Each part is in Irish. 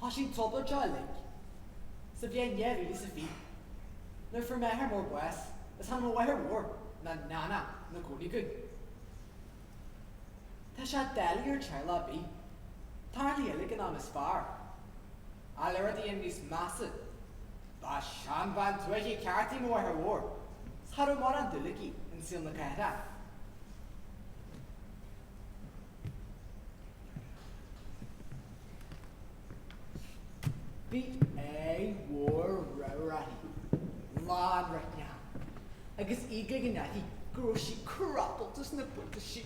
Thoisigh an trioblóid uilig sa bhliain dhá mhíle is a fiche nuair fuair m'athair mór bás is tháinig mo mháthair mhór ná nana 'na cónaí againn. Tá sé doiligh ar theaghlach ar bith tarrthaí uilig an am is fearr ach le rudaí a dhéanamh níos measa. Ba sheanbhean tuaithe ceart í mo mháthair mhór 's cha raibh morán dúil aici in saol na cathrach. Bhí aghaidh mhór ramhar uirthi, lán roicneacha, agus í ag ligean uirthi go raibh sí crapalta sna buataisí.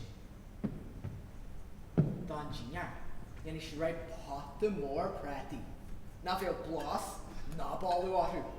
Don dinnéar, dhéanadh sí réidh pota mór prátaí nach bhfaigheadh blas ná boladh orthu.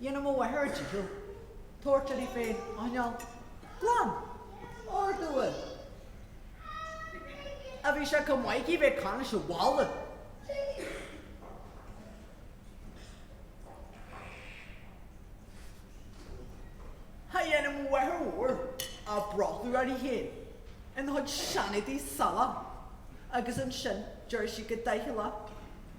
Dhéanadh mo mháthair a dícheall tabhairt uirthi í féin a choinneáil glan, ordúil. Ach bhí sé chomh maith aici bheith ag caint leis an bhalla. Dhéanadh mo mháthair mhór a brothallach uirthi féin ina cuid seanéadaí salach agus ansin deireadh sí go doicheallach,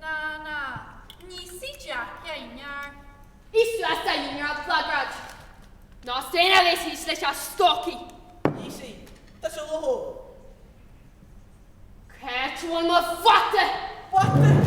Na, na, ní si Jack é, nár. Is tú as daingean ar an phlagráid. Ná staon a bheith thíos leis na stocaí. Ní si, tá sé leo. Caith tú an mo phota! Phota?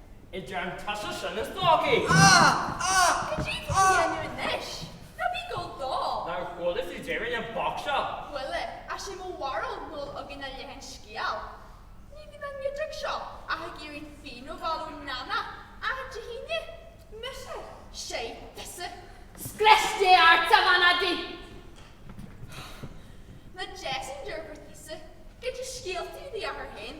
Idir an tusa sin is d'fhágfaidh. Cad é tá tú a dhéanamh anois? Ná bí go dall. Nár chuala tú deireadh na bpoc seo? Chuala, ach sé mo bharúil nach bhfuil againn ach leath an scéil. Ní bhíonn an Giúdach seo ach ag iarraidh pingin a fháil ó Nana achan Aoine. Mise? Sé, tusa. Scrios Dé ort, a bhanadaí! Nach deas an deirfiúr tusa, ag déanamh scéalta ar do dheartháir féin.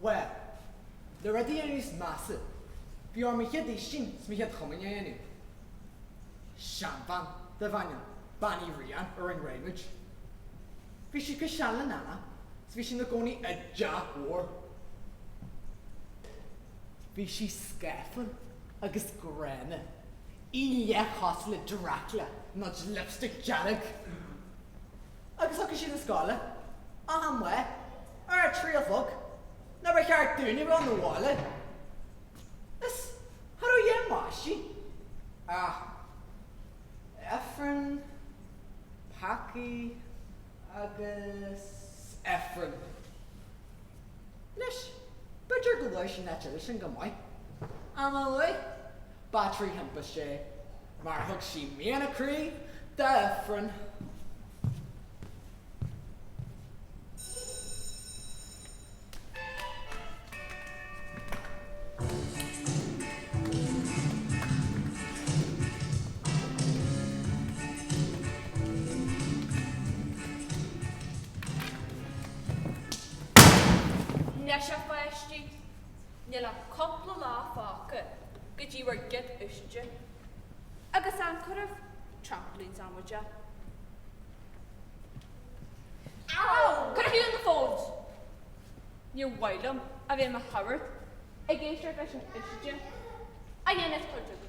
Bhuel, le rudaí a dhéanamh níos measa, bhí orm mo chéad fhaoistin 's mo chéad chomaoin a dhéanamh. Seanbhean darbh ainm Bean Uí Riain a rinne réidh muid. Bhí sí chomh sean le Nana 's bhí sí ina gcónaí i dteach mhór. Bhí sí scáfar agus gránna, í leathchosúil le Dracula, muid lipstick dearg. Agus thiocfadh sí 'na scoile achan lá ar a trí a chlog nuair ba cheart dúinn a dhul abhaile. Is cha rabh aon mhaistí ach ifreann, peacaí agus ifreann. Anois, b'fhéidir gur luaigh sí an áit eile sin chomh maith, ach má luaigh, ba trí thimpiste é, mar thug sí mian a croí d'Ifreann. Anois a pháistí, níl ach cúpla lá fágtha go dtí bhur gcéad fhaoiside. Agus an cuireadh trampolines amú de? Cad faoi na phones? Níor mhaith liom a bheith i mo shagart ag éisteacht leis an fhaoiside a dhéanfas tabhairt agaibh.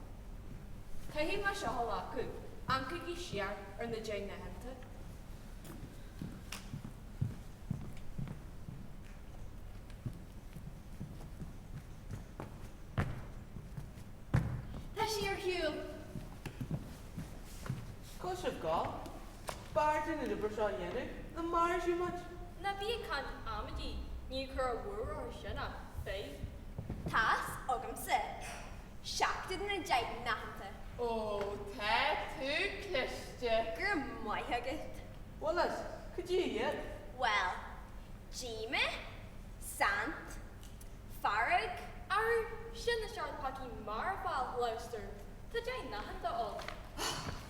Caithfidh mé seo a ghlacadh, gabhaigí siar ar na deich n-aitheanta. Tá sí ar shiúl. Cad sibh dhá? B'fhearr dínn an obair seo a dhéanamh ná mar a d'fhill muid. Ná bí ag caint amaidí, níl cor a bhfuair orthu sin ach feidhm. Tá's agamsa seacht de na deich n-aitheanta. Ó, tá tú cliste. Go raibh maith agat. Bhuel as, goidé iad. Bhuel, díomas, saint, fearg. Arú, sin na seacht bpeacaí marfa Gloucester. Tá deich n-aitheanta ann.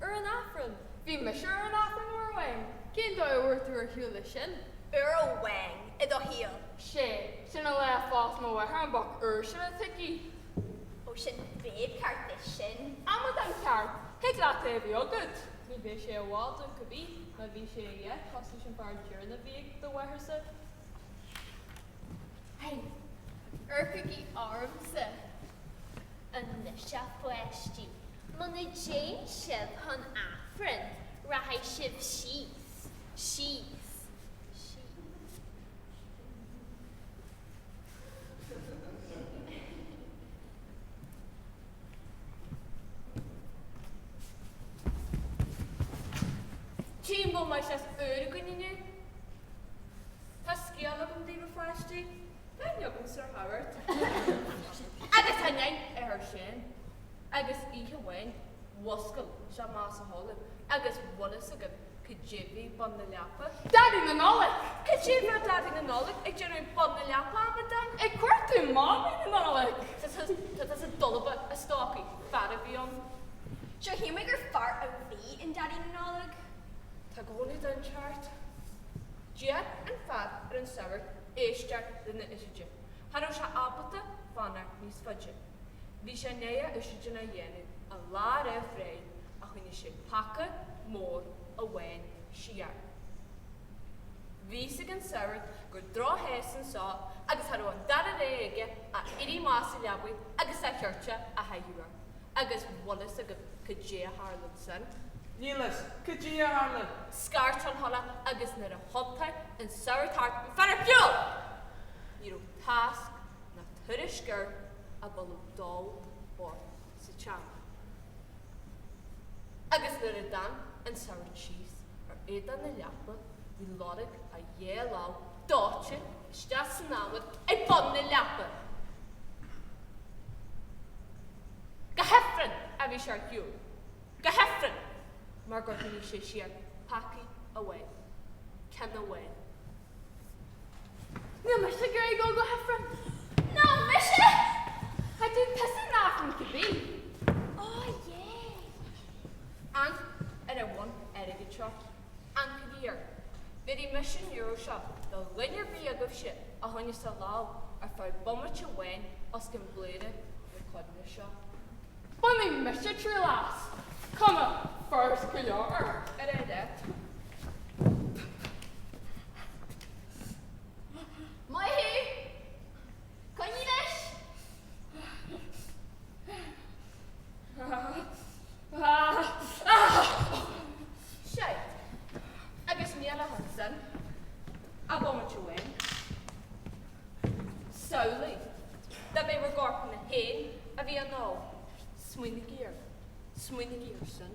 Ar an Aifreann? Bhí mise ar an Aifreann uair amháin. Cén dóigh a bhfuair tú ar shiúl leis sin? Uair amháin, i do shaol? Sé, sin an lá a phós mo mháthair an boc úr sin atá aici. Ó sin prick ceart é sin. Amadán ceart. Thig leat é a bheith agat. Ní bheidh sé i bhfad ann cé bith má bhí sé a dhath cosúil leis an fhear deireanach a bhí ag do mháthairse. Hey, amharcaigí ormsa. Anois a pháistí, muna dtéann sibh chun Aifrinn, rachaidh sibh síos, síos, síos, síos. Cén bó mar seo as Oregon inniu? Tá scéal agam daoibh, a pháistí. Cad a thug Sir Howard agus an inn air sin? Agus oíche amháin mhuscail sé amach as a chodladh agus bhfuil fhios agat goidé a bhí ag bun na leapa? Daidí na Nollag! Cad é mar a bheadh Daidí na Nollag ag déanamh ag bun na leapa, a mhic dom? Ag cuartú Mámaí na Nollag! Tá tusa dalba, a stócaigh, fear a bhí ann. Sea, shíl mé gur fear a bhí in Daidí na Nollag. Tá go leor den cheart. D'iarr an fear ar an sagart éisteacht lena fhaoiside. Cha raibh sé ábalta fanacht níos faide. Bhí sé i ndiaidh a fhaoiside a dhéanamh an lá roimh ré ach choinnigh sé peaca mór amháin siar. Bhí fhios ag an sagart gur drochfhear anso agus cha raibh an dara rogha aige ach éirí amach as a leabaidh agus a chóta a chaitheamh air. Agus bhfuil fhios agat goidé a tharlaigh ansin? Níl fhios. Goidé a tharlaigh? Scairt an coileach agus nuair a thiontaigh an sagart thart bhí an fear ar shiúl! Ní raibh tásc ná tuairisc air ach boladh dóite sa tseomra. Agus nuair a d'amharc an sagart síos ar éadan na leapa bhí lorg a dhá láimh dóite! isteach san adhmad ag bun na leapa. Go hifreann a bhí sé ar shiúl, go hifreann, mar gur choinnigh sé siar peaca amháin, ceann amháin. Níl mise ag iarraidh dul go hifreann. Ná mise! Chaith tú piosa nach ort a bhí. Á, yeh! Amharc ar an bhonn airgid seo? Aon euro. Bhéarfaidh mise an euro seo do dhuine ar bith agaibhse a choinneos a lámh ar feadh bomaite amháin os cionn bladhaire na coinnle seo. Bainfidh mise triail as. Cuma, furast go leor ar a leithéid. Maith thú! Coinnigh leis! Ahh! Ahh! Ahh! Ahh! Seid. Agus ní raibh ansin ach bomaite amháin. Samhlaigh, dá mba bhur gcorpanna féin a bhí á ndó. Smaoinigí air. Smaoinigí air sin.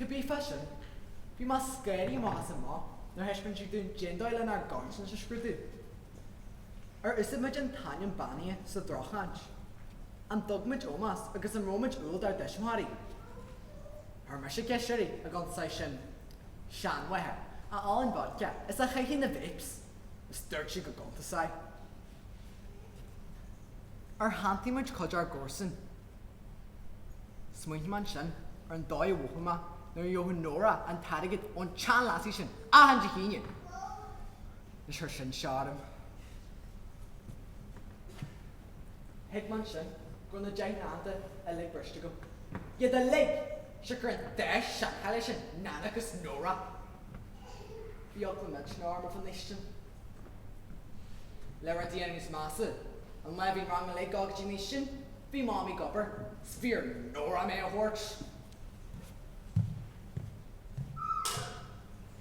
Cibé fá sin, bhí mé scanraithe amach is amach nuair a thaispeáin siad dúinn cén dóigh lenár gcoinsias a scrúdú. Ar úsáid muid an t-ainm beannaithe sa droch-chaint? An dtug muid ómós agus an raibh muid umhal dár dtuismitheoirí? Chuir mise ceist uirthi, an gcuntasann sin seanmháthair a ólann vodka is a chaitheann na vapes, is dúirt sí go gcuntasann. Ar shantaigh muid cuid ár gcomharsan? Smaointigh mé ansin ar an dóigh a mhothaigh mé nuair a gheobhadh Nóra an t-airgead ón tseanleasaí sin achan Dé hAoine! Anois chuir sin seo orm. Thuig mé ansin go raibh na deich n-aitheanta uilig briste agam. Iad uilig! Siocair an dá sheanchailleach sin, Nana agus Nóra. Bhí eagla mhillteanach orm roimh an fhaoistin. Le rudaí a dhéanamh níos measa, an lá a bhí an rang uilig ag gabháil go dtí an fhaoistin, bhí Mamaí ag obair, 's bhí ar Nóra mé a thabhairt.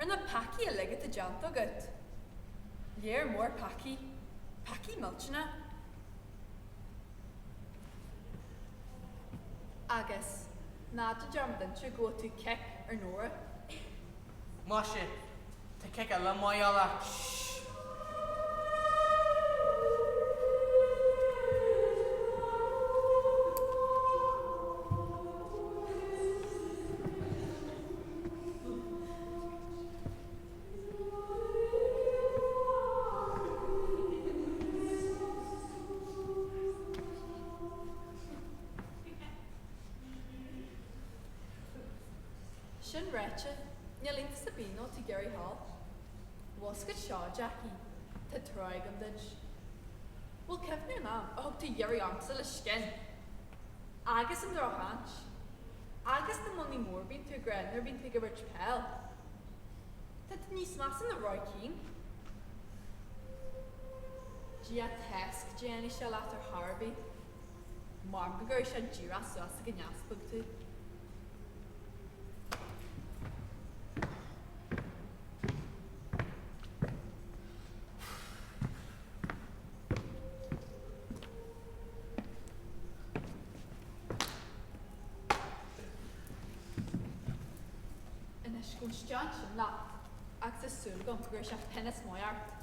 Ar na peacaí uilig atá déanta agat, lear mór peacaí, peacaí millteanacha. Agus ná déan dearmad inse gur bhuail tú kick ar Nóra. Maise, tá kick eile amuigh dá leat. Sin ráite, níl aon Sabino to Gary Hall. Bhasc it seo, Jackie. Tá trua agam duit. Bhuel, cuimhnigh an am a thug tú Yuri ormsa le scian! Agus an drochchaint. Agus na mionnaí móra a bhíonn tú ag rá nuair a bhíonn tú ag imirt peil. Tá tú níos measa ná Roy Keane. Ag Dia atá a fhios caidé a dhéanfaidh sé leat ar chor ar bith. Mar go gcuirfidh sé díreach suas ag an easpag thú. Anois go stian sin leat, agus is súil agam go raibh sé tinneas maith ort.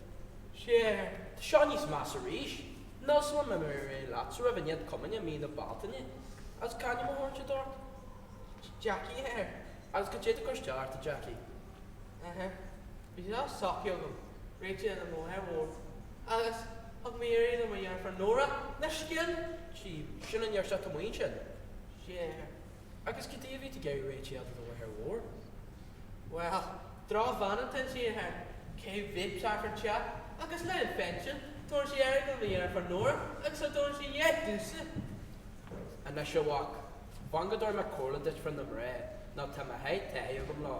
Sea, tá seo níos measa arís. Níl fhios agam an mbeidh mé réidh leatsa roimh an Chéad Chomaoineach i mí na Bealtaine agus cén t-ainm a thugann siad ort? Jackie, a Athair, agus cad é atá ag cur isteach ort, a Jackie. Ahem. Bhí sé socraithe agam, réitigh de mo mháthair mhór, agus thug mé iarraidh mharfa ar Nóra le scian díom. Sin an iarratas a tá muinn sin. Sea. Agus cad é a bhí tú ag iarraidh réidh le do mháthair mhór? Bhuel, drochbhean atá inti, a Athair, cé bhfios cé chomh te agus lá an phinsin, tugann sí airgead do mo dheirfiúr Nóra agus cha dtugann sí a dhath domhsa. Anois a mhac, fan go dtabharfaidh mé comhairle duit fá na mná nó tá mo sháith taithí agam leo.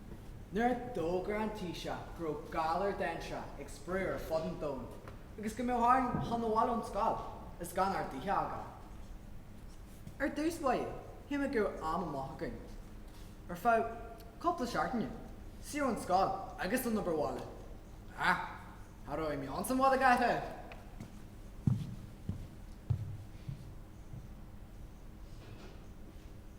Nuair a d'fhógair an Taoiseach go raibh galar dainséarach ag spré ar fud an domhain agus go mbeadh orainn dul 'na bhaile ón scoil is gan ár dtithe a fhágáil, ar dtús mhothaigh muid go raibh am amach againn. Ar feadh cúpla seachtaine, saor ón scoil agus ón obair bhaile. Ach cha raibh aon meon sa bhaile gach raibh.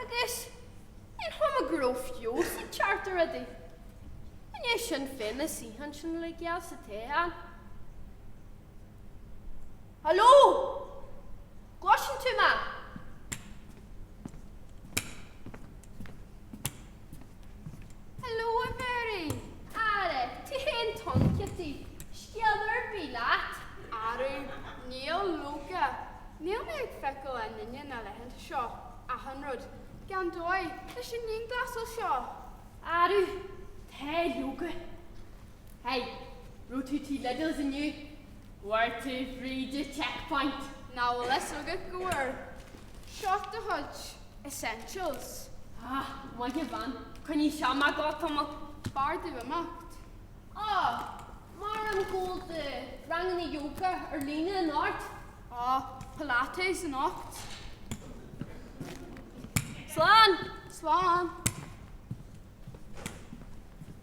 Agus níor chuma go raibh feabhas ag teacht ar rudaí. An é sin féin is oíche ansin le geal sa tae ann? Haló! An gcloiseann tú mé? Hello Mary! Ara, tú féin atá ann, Kitty? Scéal ar bith leat? Arú, níl, leoga, níl mé ag feiceáil aon duine na laethanta seo, achan rud, gan dóigh, leis an ndianghlasáil seo. Arú, tá, leoga. Hey, raibh tú tigh Lidl's inniu? An bhfuair tú fríd an checkpoint. Nach bhfuil fhios agat go bhfuair? Shot the Hutch Essentials. Ah, maith a bhean, coinneoidh seo muid ag gabháil tamall. B'fhearr domh imeacht. Ah, Mary, ag gabháil do ranganna yoga ar líne anocht. Ah, Pilates anocht. Slán! Slán!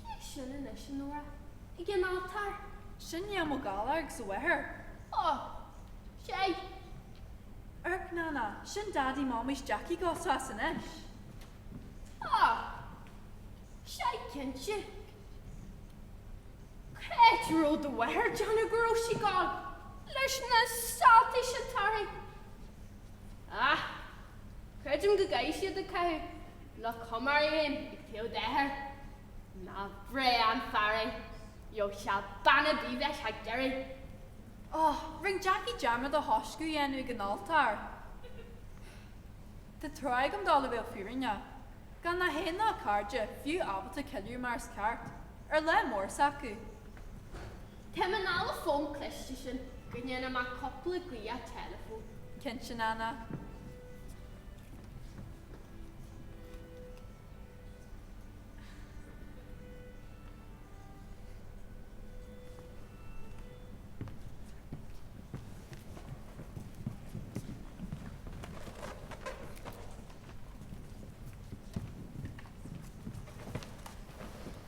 Cé sin anois, a Nóra, ag an altóir? Sin Liam Ó Gallchoir agus a mháthair. Ó! Sea. Erc, Nana, sin Daidí Mámais Jeaicí dhá shos anois. Ó! Sea cinnte. Caidé a raibh do mháthair ag déanamh go bhfuair sí gan leis na Saltees, an dtarraing. Á! Creidim go gcaithfidh siad ag caitheamh. Nach cuma. A Enda, cé do d'athair? Nár bhreá an fear é. Beidh sé bean a' tí leat ag deireadh. Ó, rinne Jackie dearmad do thaisce a dhéanamh ag an altóir. Tá trua agam dó i mbéal fírinne. Gan na seanchairde, fiú ábalta ceiliúradh mar is ceart, ar lá mór s'acu. Tabhair anall an fón cliste sin go ndéana mé cupla glaoch teileafóin. Cinnte Nana.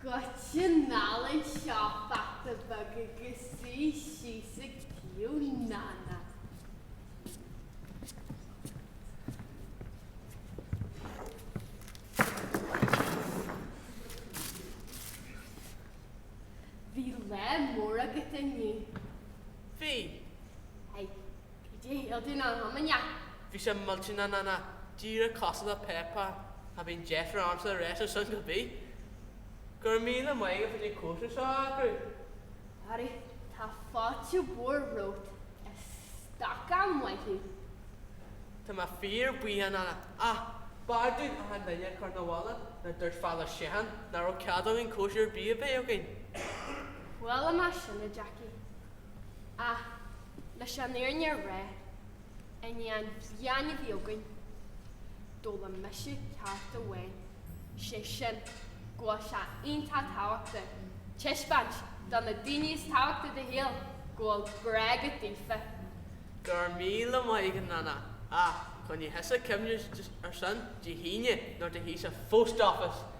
Goitse anall anseo a pheata beag agus suigh síos ag taobh Nana. Bhí lá mór agat inniu. Bhí. Hi. Bhí sé ag iompú na hiomainne. Bhí sé millteanach Nana díreach cosúil le Peppa. Cha bhíonn deifir ormsa a réiteach sin ar bith. Go raibh míle maith agat as an cóisir seo a eagrú. Harry, tá fáilte mhór romhat a stócaigh, maith thú. Tá mé fíor buíoch a Nana, ach b'fhearr dúinn achan duine a chur 'na bhaile. Nár dhúirt Father Sheehan nach raibh cead againn cóisir ar bith a bheith againn. Chuala mé sin, a Jackie, ach. Leis an fhírinne a rá, i ndiaidh an bhliain a bhí againn, d'fhoghlaim mise ceacht amháin, sé sin, go bhfuil sé iontach tábhachtach taispeáint do na daoine is tábhachtaí i do shaol go bhfuil grá agat daofa. Go raibh míle maith agat a Nana, ach coinnigh thusa cuimhne ar sin Dé hAoine nuair a théid tusa Phost Office!